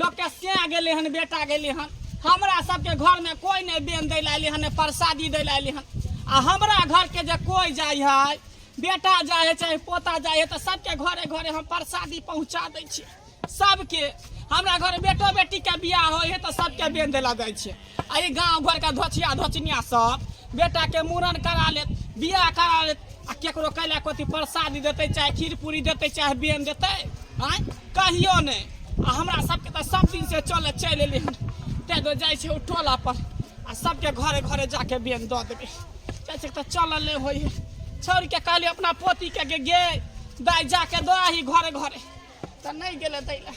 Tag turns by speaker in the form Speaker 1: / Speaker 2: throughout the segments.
Speaker 1: लोकके से गेलै हन बेटा गेलै हन हमरा सबके घरमे कोइ नहि बेन दै लए अयलै हन प्रसादी दै लए अयलै हन आ हमरा घरके जे कोइ जाइ है बेटा जाइ है चाहे पोता जाइ है तऽ सबके घरे घरे हम प्रसादी पहुँचा दै छियै सबके हमरा घर बेटो बेटीके बियाह होइ है तऽ सबके बेन दै लए जाइ छियै एहि गाँव घरके धोचिया धोचनिया सब बेटाके मूड़न करा लेत बियाह करा लेत आ केकरो कैला कोती प्रसादी देतै चाहे खीर पूरी देतै चाहे बेन देतै आँय कहियो नहि आ हमरा सबके तऽ सब दिन से चले चलि एलियै हन ताहि दुआरे जाइ छै ओ टोला पर आ सबके घरे घरे जाके बेन दऽ देबै जाइ छै तऽ चलल नहि होइ हइ छोड़िके कहली अपना पोतीके गे गे दाइ जाके दऽ आही घरे घरे तऽ नहि गेलै दै लए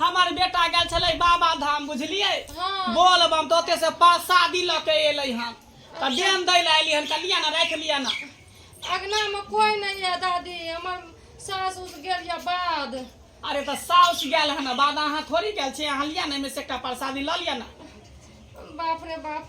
Speaker 1: हमर बेटा गेल छलै बाबा धाम बुझलियै बोल बम तऽ ओते से प्रसादी लऽ के एलै हन तऽ देन दै लए एली हन तऽ लिअ ने राखि लिअ ने अगना में कोई नहीं है दादी हमर सास उस गेल या बाद अरे तऽ साउस गेल हन बाद अहाँ थोड़ी गेल छी अहाँ लिअ ने एहिमे से एकटा प्रसादी लऽ लिअ ने बाप रे बाप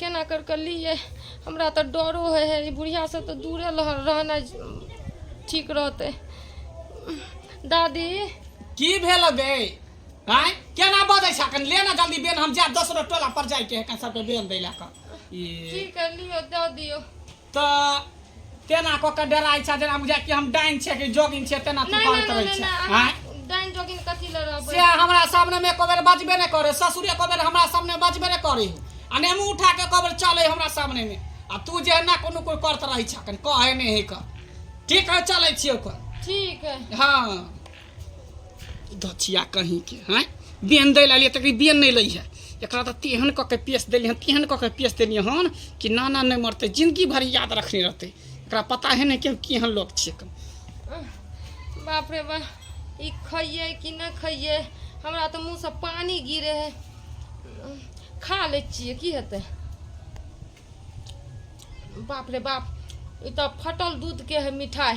Speaker 1: केना कर कऽ लिए हमरा तऽ डरो होइ है ई बुढ़ियासँ तऽ दूरे लह- रहनाइ ठीक रहतै दादी की भेल बे आय केना बजै छै कनि ले ना जल्दी बेन हम जायब दोसरो टोला पर जाय के है कनि सबके बेन दै लए कऽ ई की कर लियो दऽ दियो त तेना क के डराइ छै जेना बुझाइ कि हम डाइन छियै कि जोगिन छियै तेना तू नहीं करैत नहीं रहै नहीं छै नहीं आँय? अहाँ डाइन जोगिन कथी ले रहबै से हमरा सामने में एको बेर बजबे नहीं करे ससुर एको बेर हमरा सामने बजबे नहीं करे आ ने मुंह उठा के एको बेर चले हमरा सामने में आ तू जे ना कोनो कोई करत रहै छै कन कहे नहीं है क ठीक है चले छियै ओकर ठीक है हाँ दछिया कहीं के हैं बेन दै लालिए तकरी बेन नहीं लई है एकरा तो तेहन कऽ के पेश देली हन तेहन कऽ के पेश देली हन कि नाना नहीं मरते जिंदगी भर याद रखने रहते एकरा पता है नहीं कि हम केहन लोग छिए कम बाप रे बा ई खइए कि ना खइए हमरा तऽ मुँह से पानी गिरे है खा लै छियै की हेतै बाप रे बाप ई तऽ फटल दूध के है मिठाई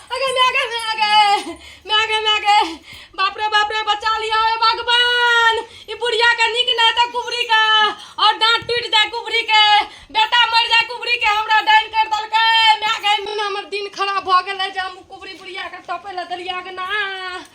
Speaker 1: अगे मागे मागे मागे मागे बाप रे बाप रे बचा लियो हे भगवान ई बुढ़िया के निक ना त कुबरी का और दांत टूट जाए कुबरी के बेटा मर जाए कुबरी के हमरा डाइन कर दलके मागे हमर दिन खराब भ गेल है जे हम कुबरी बुढ़िया के टपे ला दलिया के ना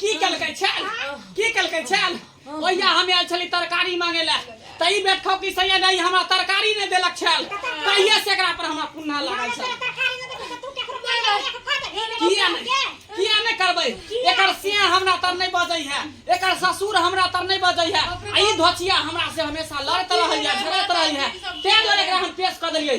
Speaker 1: की केलकै छल की केलकै छल ओहिया हम आयल छली तरकारी मांगे ला त ई बेटखौ की सैया नहीं हमरा तरकारी नहीं देलक छल कहिया से एकरा पर हमरा पुन्ना लागल छल किया नहीं किया नहीं करबै एकर सिया हमरा तर नहीं बजै है एकर ससुर हमरा तर नहीं बजै है आ ई धोचिया हमरा से हमेशा लड़त रहै है झगड़त रहै है तें दुआरे एकरा हम पेश क देलियै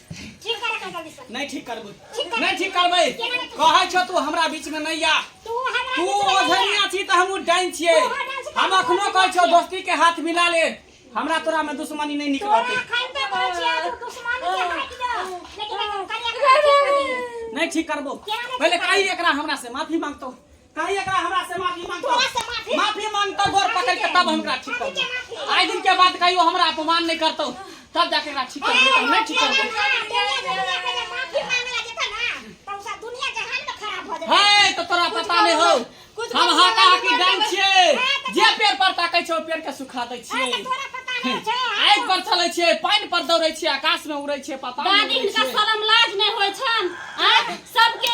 Speaker 1: ठीक कर कर कर बिस्वा नहीं ठीक करबू ठीक करबै। नहीं ठीक करबै केना नहि ठीक कहै छौ तू हमरा बीच में नहीं आ तू हमरा तू किछु नहि ओझनिया छी त हमहू डाइन छियै तू हमरा डाइन छी, हम तू अखनो हमरा कहै छौ छियै। दोस्ती के हाथ मिला ले हमरा तोरा में दुश्मनी नहीं तोरा निकलतै खान पे पहुंचिया तू दुश्मन के हाथ दो लेकिन करिया कर नहीं ठीक करबो केना नहि पहले ठीक कही एकरा हमरा से माफी मांगतो कहीं एकरा हमरा से माफी मांग तोरा से माफी माफी मांग तो गोर पकड़ के तब हमरा ठीक कर आए दिन के बाद कहियो हमरा अपमान नहीं करतो तब जाके एकरा ठीक कर नहीं ठीक कर है तो तोरा पता नहीं हो हम हाका हाकी डांग छिए जे पेड़ पर ताकै छौ पेड़ के सुखा दै छिए आग पर चलै छिए पानि पर दौड़ै छिए आकाश में उड़ै छिए पता नहीं इनका शर्म लाज नहीं होय छन सबके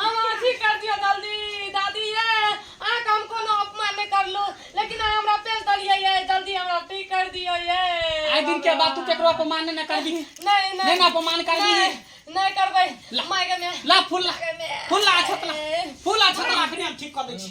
Speaker 1: हमरा अथी कर दियो जल्दी दादी ये अहाँ के हम कोनो अपमान नहीं करलू लेकिन अहाँ हमरा पेश दलिए ये जल्दी हमरा ठीक कर दियो ये आइ दिन के बाद तू केकरो अपमान नहि ने करबी नहीं नहि ने अपमान करबी नहीं नहीं करबै ला। माय के में ला फूल ला माय के में फूल ला अछत ला फूल ला अछत ला अखने हम ठीक कऽ दै छी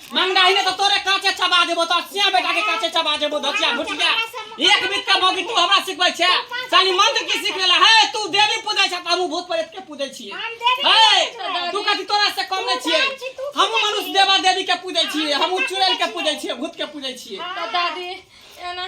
Speaker 1: मंगाही ने तो तोरे काचे चबा देबो तो सिया बेटा के काचे चबा देबो धचिया भुटिया एक बीत के मौकी तू हमरा सिखबै छे सानी मंत्र की सिख लेला है तू देवी पूजै छ हमहु भूत प्रेत के पूजै छी है तू कथि तोरा से कम नै छी हमहु मनुष्य देवा देवी के पूजै छी हमहु चुड़ैल के पूजै छी भूत के पूजै छी दादी एना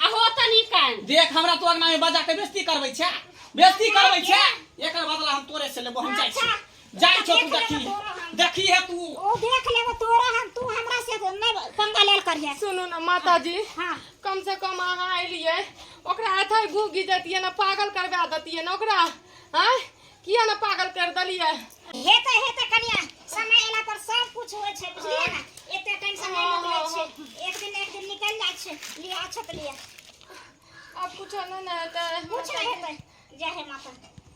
Speaker 1: आ हो त निकाल देख हमरा तो अंगना में बजा के बेइज्जती करबै छै बेइज्जती करबै छै एकर बदला हम तोरे से लेबो हम जाइ छी जाइ छौ तू देखी देखी है तू ओ देख लेबो तोरा हम तू हमरा से नै पंगा लेल करिए सुनू ना माता जी हां कम से कम अहाँ एलियै ओकरा अथै घूगी देतियै ना पागल करवा देतियै ना ओकरा हैं किया ने पागल कर देलियै हेतै हेतै कनिया समय एला पर सब कुछ होइ छै बुझलियै ना एते टेंशन नै लोग लै छै एक दिन एक दिन निकल जाइ छै लिया अच्छा त लिया अब कुछ नै नै हेतै कुछ नै हेतै जय हे माता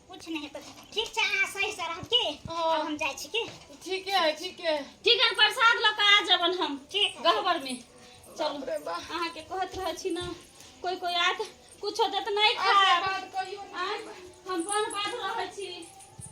Speaker 1: कुछ नै हेतै ठीक छै अहाँ सही से रहब की अब हम जाइ छी की ठीके है ठीके ठीक है प्रसाद ल के आ जबन हम ठीक गहबर में चलू अहाँ के कहत रहै छी ना कोई कोई आत कुछो देत नहीं खाए हम बन बात रहै छी